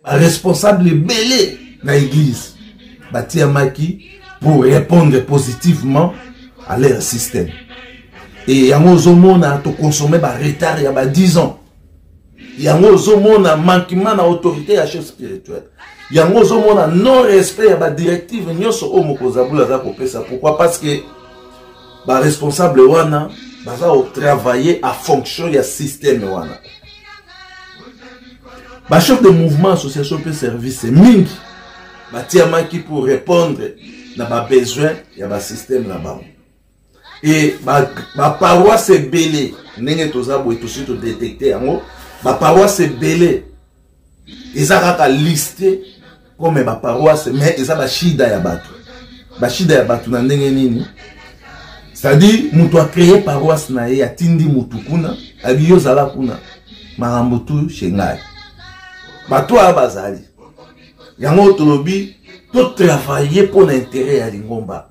baresponsable ebele na eglise batiyamaki pour répondre positivement à leur système e yango ozomona toconsomme baretard ya ba 10 ans yango ozomona manquement na autorité ya chef spirituel yango ozomona non respect ya badirective nyonso oyo mokozabula aza kopesa pourquoi parce que ba responsable wana baza kotravaille a fonction ya systeme wana bachef de mouvement association mpe service mingi batiamaki pour répondre na babesoin ya basysteme na bango e baparoise ebele ndenge toza boye tosi todetecte yango baparoise ebele eza kaka liste comme ba paroisse mais eza ba shida ya bato ba shida ya bato na ndenge nini c'est-à-dire moto acreye paroisse na ye atindi motu kuna abi yo ozala kuna makambo tu chez ngai bato oyo bazali yango tolobi totravaille mpo na intere ya lingomba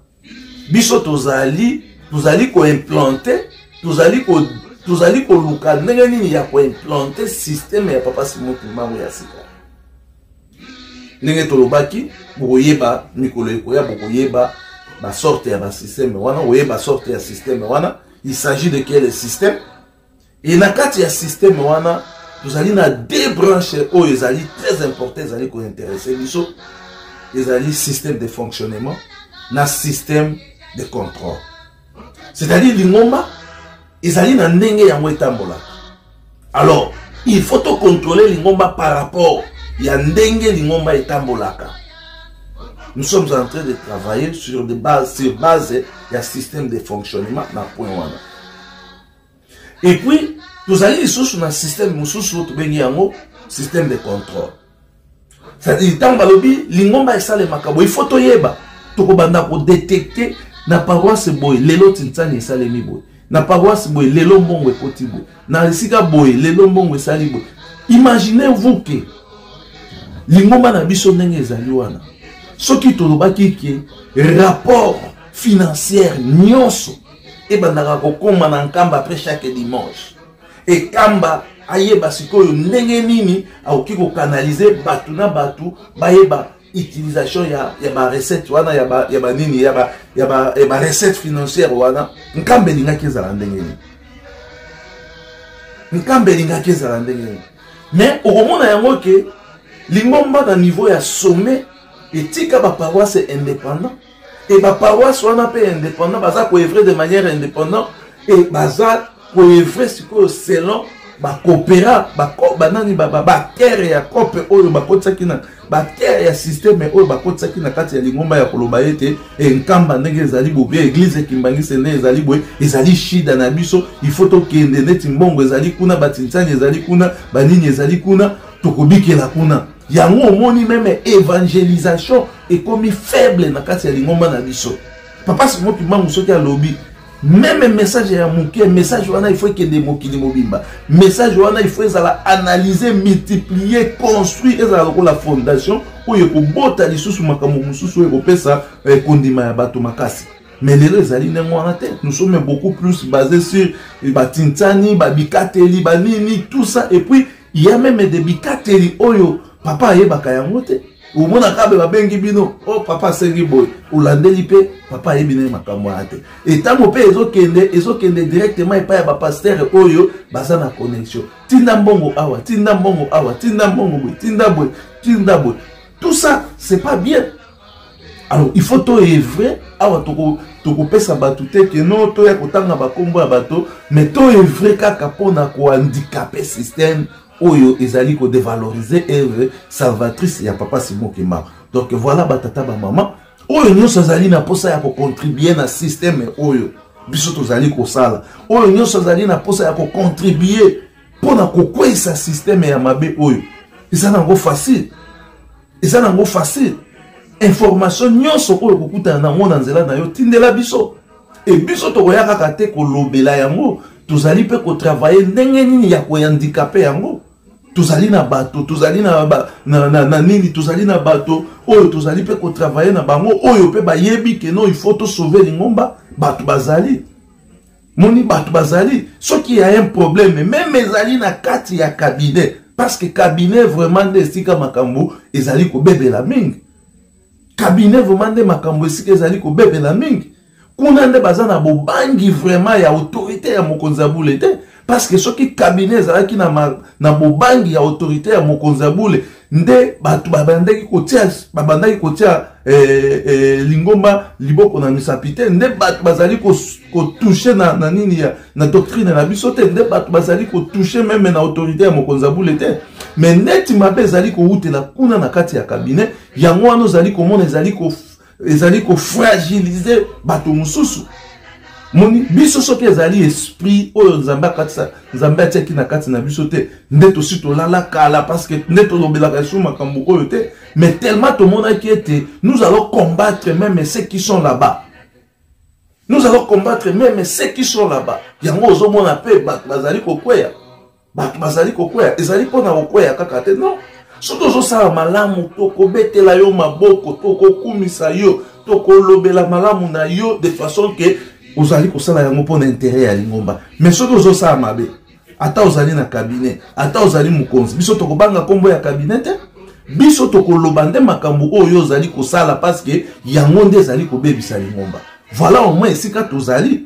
biso tozali tozali koimplante tozali ko tozali koluka ndenge nini ya koimplante systeme ya papa simon kimbangu ya sika ndenge tolobaki bokoyeba mikolo ekoya bokoyeba basorte ya basysteme wana oyeba sorte ya systeme wana il s'agit de quel système Et na kati ya système wana tozali na deux branches oyo ezali très important ezali ko intéresser biso ezali système de fonctionnement na système de contrôle. C'est-à-dire lingomba ezali na ndenge yango etambolaka. Alors, il faut to contrôler lingomba par rapport ya ndenge lingomba etambolaka. Nous sommes en train de travailler sur des bases sur base ya système de fonctionnement na point wana. et puis tozali lisusu na système mosusu oyo tobengi yango système de contrôle c'est-à-dire ntango balobi lingomba esalemaka boye ifo toyeba tokobanda kodetecte na paroisse boye lelo tinsani esalemi boye na paroisse boye lelo mbongo ekoti boye na esika boye lelo mbongo esali boye imaginez vous ke lingomba na biso ndenge ezali wana soki tolobaki ke rapport financière nyonso ebandaka kokoma na nkamba après chaque dimanche ekamba ayeba sikoyo ndenge nini akoki kokanalize bato na bato bayeba utilisation ya, ya barecette wana ya banini ya ba, ya ba, ya ba recette financière wana nkambe elingaki ezala ndenge nini nkambe elingaki ezala ndenge nini mais okomona yango ke lingomba na niveau ya sommet etika baparoise indépendant et ba paroisse wana pe indépendant baza ko œuvrer de manière indépendant et baza ko œuvrer sikoyo selon ba coopéra ba banani ba ba terre ya cope oyo bakotisaki na ba terre ya système oyo bakotisaki na kati ya lingomba ya koloba ete enkamba ndenge ezali bobe église ekimbangise nde ezali boye ezali shida na biso il faut tokende neti mbongo ezali kuna batinsani ezali kuna banini ezali kuna tokobikela kuna yango omoni meme evangelisation ekomi faible na kati ya lingomba na biso papa simo kimbangu soki alobi meme message ya moke message wana il faut ekende mokili mobimba message wana il faut ezala analyse multiplier construit ezala lokola fondation oyo ekobota lisusu makambo mosusu oyo ekopesa eh, kondima ya bato makasi mais lelo ezali ndenge wana te nous sommes beaucoup plus basé sur batintani babikateli banini tout ça et puis ya meme de bikateli oyo papa ayebaka yango te omonaka be babengi bino o oh, papa asengi boye olandeli mpe papa ayebi naye makambo wana te etango mpe ezokende ezokende directement epai ya bapastere oyo baza na connexion tinda mbongo awa tinda mbongo awa tinda mbongo boye tinda boye tinda boye tout ça c'est pas bien alors il faut toevre awa tokopesa bato te ke no toya kotanga bakombo ya bato mais toevre kaka mpona kohandikape système oyo ezali kodevalorize evre salvatrice ya papa simo kimba donc voilà batata bamama oyo nyonso azali na mposa ya kocontribue na système oyo biso tozali kosala oyo nyonso azali na mposa ya kocontribue mpo na kokweisa systeme ya mabe oyo eza nango facile eza nango facile information nyonso oyo okokutana na yango na nzela na yo tindela biso e biso tokoya kaka te kolobela yango tozali mpe kotravaye ndenge nini ya koyandikape yango tozali na bato tozali na, ba, na, na, na nini tozali na bato oyo tozali mpe kotravaye na bango oyo mpe bayebi keno ifo tosauve lingomba bato bazali moni bato bazali soki ya un problème meme ezali na kati ya cabinet parce que cabinet vraiment nde esika makambo ezali kobebela mingi cabinet vraiment nde makambo esika ezali kobebela mingi kuna nde baza na bobangi vraiment ya autorité ya mokonzi ya bule te parce que soki cabinet ezalaki na, na bobangi ya autorité ya mokonzi ya bule nde bato babandaki kotia babandaki kotia eh, eh, lingomba liboko na misapi te nde bato bazali kotouche na, na nini ya na doctrine na biso te nde bato bazali kotouche meme na autorité ya mokonzi ya bule te me neti mabe ezali kowutela kuna na kati ya kabinet yango wana ozali komona ezali ko ezali kofragilize bato mosusu moni biso soki ezali esprit oyo nzambe akatisa nzambe atiaki na kati na biso te nde tosi tolala kala parceke nde tolobelaka esu makambo oyo te mais tellement tomonaki ete nous allons combattre meme ceux qui sont là-bas nous allons combattre meme ceux qui sont là-bas yango ozomona mpe bato bazali kokweya bato bazali kokwea ezali mpo na kokwea kaka te non soki ozosala malamu tokobetela yo maboko tokokumisa yo tokolobela malamu na yo de façon ke ozali kosala yango mpo na intere ya lingomba me soki ozosala mabe ata ozali na kabinet ata ozali mokonzi biso tokobanga nkombo ya kabinet te biso tokoloba nde makambo oyo ozali kosala paske yango nde ezali kobebisa lingomba voilà omoi esika tozali